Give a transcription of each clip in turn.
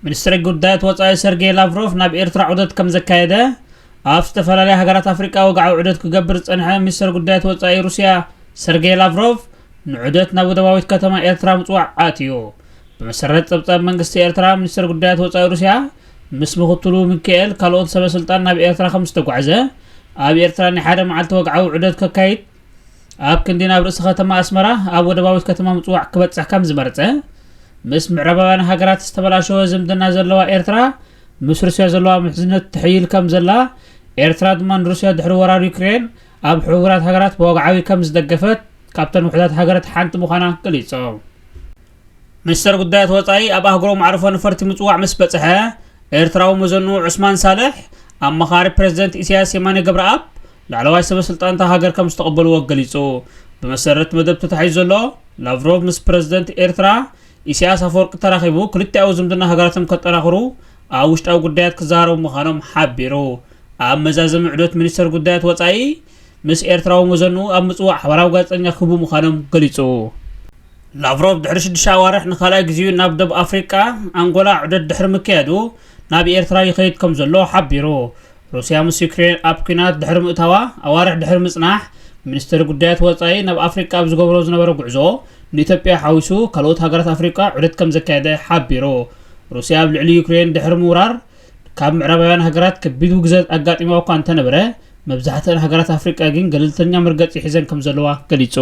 ሚኒስትሪ ጉዳያት ወፃኢ ሰርጌይ ላቭሮቭ ናብ ኤርትራ ዑደት ከም ዘካየደ ኣብ ዝተፈላለያ ሃገራት ኣፍሪቃ ወግዓዊ ዑደት ክገብር ዝፀንሐ ሚኒስትር ጉዳያት ወፃኢ ሩስያ ሰርጌይ ላቭሮቭ ንዑደት ናብ ወደባዊት ከተማ ኤርትራ ምፅዋዕ ኣትዩ ብመሰረት ፀብፃብ መንግስቲ ኤርትራ ሚኒስትር ጉዳያት ወፃኢ ሩስያ ምስ ምክትሉ ምኪኤል ካልኦት ሰበ ስልጣን ናብ ኤርትራ ከም ዝተጓዕዘ፣ ኣብ ኤርትራ ናይ ሓደ መዓልቲ ወግዓዊ ዑደት ከካይድ፣ ኣብ ክንዲ ናብ ርእሲ ከተማ ኣስመራ ኣብ ወደባዊት ከተማ ምጽዋዕ ክበጽሕ ከም ዝመርጸ፣ ምስ ምዕራባውያን ሃገራት ዝተበላሸወ ዝምድና ዘለዋ ኤርትራ ምስ ሩስያ ዘለዋ ምሕዝነት ትሕይል ከም ዘላ፣ ኤርትራ ድማ ንሩስያ ድሕሪ ወራር ዩክሬን ኣብ ሕቡራት ሃገራት ብወግዓዊ ከም ዝደገፈት ካብተን ውሑዳት ሃገርት ሓንቲ ምዃና ገሊጾም። ሚኒስተር ጉዳያት ወጻኢ ኣብ ኣህጉራዊ መዕርፎ ነፈርቲ ምጽዋዕ ምስ በጽሐ፣ ኤርትራዊ መዘንኡ ዑስማን ሳልሕ፣ ኣማኻሪ ፕረዚደንት ኢሳያስ የማነ ገብረኣብ፣ ላዕለዋይ ሰበስልጣን'ታ ሃገር ከም ዝተቐበልዎ ገሊጹ። ብመሰረት መደብ ተታሒዙ ዘሎ፣ ላቭሮቭ ምስ ፕረዚደንት ኤርትራ ኢሳያስ ኣፈወርቂ ተራኺቡ ክልቲኣዊ ዝምድና ሃገራቶም ከጠናኽሩ ኣብ ውሽጣዊ ጉዳያት ክዘራረቡ ምዃኖም ሓቢሩ። ኣብ መዛዘሚ ዑደት ሚኒስተር ጉዳያት ወጻኢ ምስ ኤርትራዊ መዘንኡ ኣብ ምጽዋዕ ሓባራዊ ጋዜጠኛ ክህቡ ምዃኖም ገሊጹ። ላቭሮቭ ድሕሪ ሽዱሽተ ኣዋርሕ ንካልኣይ ግዚኡ ናብ ደቡብ ኣፍሪቃ፣ ኣንጎላ፣ ዑደት ድሕሪ ምክያዱ፣ ናብ ኤርትራ ይኸይድ ከምዘሎ ሓቢሩ። ሩስያ ምስ ዩክሬን ኣብ ኲናት ድሕሪ ምእታዋ ኣዋርሕ ድሕሪ ምጽናሕ፣ ሚኒስተሪ ጉዳያት ወጻኢ ናብ ኣፍሪቃ ኣብ ዝገብሮ ዝነበረ ጉዕዞ፣ ንኢትዮጵያ ሓዊሱ ካልኦት ሃገራት ኣፍሪቃ ዑደት ከምዘካየደ ሓቢሩ። ሩስያ ኣብ ልዕሊ ዩክሬን ድሕሪ ምውራር፣ ካብ ምዕራባውያን ሃገራት ከቢድ ውግዘት ኣጋጢማ'ኳ እንተነበረ፣ መብዛሕትኣን ሃገራት ኣፍሪቃ ግን ገለልተኛ መርገጺ ሒዘን ከምዘለዋ ገሊጹ።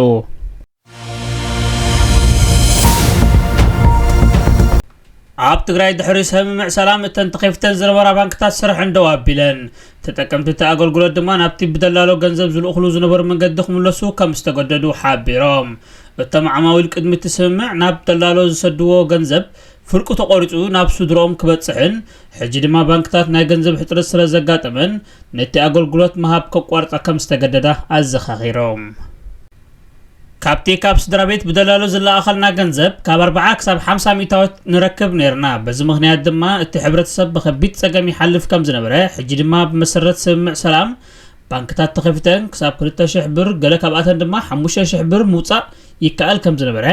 ኣብ ትግራይ ድሕሪ ስምምዕ ሰላም እተን ተኸፍተን ዝነበራ ባንክታት ስርሐን ደው ኣቢለን ተጠቀምቲ እቲ ኣገልግሎት ድማ ናብቲ ብደላሎ ገንዘብ ዝልእኽሉ ዝነበሩ መንገዲ ክምለሱ ከም ዝተገደዱ ሓቢሮም እቶም ዓማዊል ቅድሚ እቲ ስምምዕ ናብ ደላሎ ዝሰድዎ ገንዘብ ፍርቁ ተቖሪፁ ናብ ስድሮኦም ክበፅሕን ሕጂ ድማ ባንክታት ናይ ገንዘብ ሕፅረት ስለ ዘጋጠመን ነቲ ኣገልግሎት ምሃብ ከቋርፃ ከም ዝተገደዳ ኣዘኻኺሮም ካብቲ ካብ ስድራቤት ብደላሎ ዝለኣኸልና ገንዘብ ካብ ኣርብዓ ክሳብ ሓምሳ ሚእታዎት ንረክብ ነይርና፣ በዚ ምኽንያት ድማ እቲ ሕብረተሰብ ብኸቢድ ጸገም ይሓልፍ ከም ዝነበረ፣ ሕጂ ድማ ብመሰረት ስምምዕ ሰላም ባንክታት ተኸፊተን ክሳብ ክልተ ሽሕ ብር ገለ ካብኣተን ድማ ሓሙሽተ ሽሕ ብር ምውጻእ ይከኣል ከም ዝነበረ፣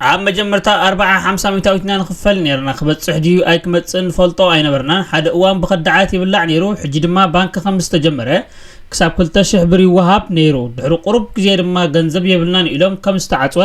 ኣብ መጀመርታ ኣርብዓ ሓምሳ ሚታዊት ኢና ንኽፈል ነይርና ክበጽሕ ድዩ ኣይክመጽእን ንፈልጦ ኣይነበርናን ሓደ እዋን ብኸዳዓት ይብላዕ ነይሩ ሕጂ ድማ ባንኪ ከም ዝተጀመረ ክሳብ ክልተ ሽሕ ብር ይወሃብ ነይሩ ድሕሪ ቁሩብ ግዜ ድማ ገንዘብ የብልናን ኢሎም ከም ዝተዓጽወ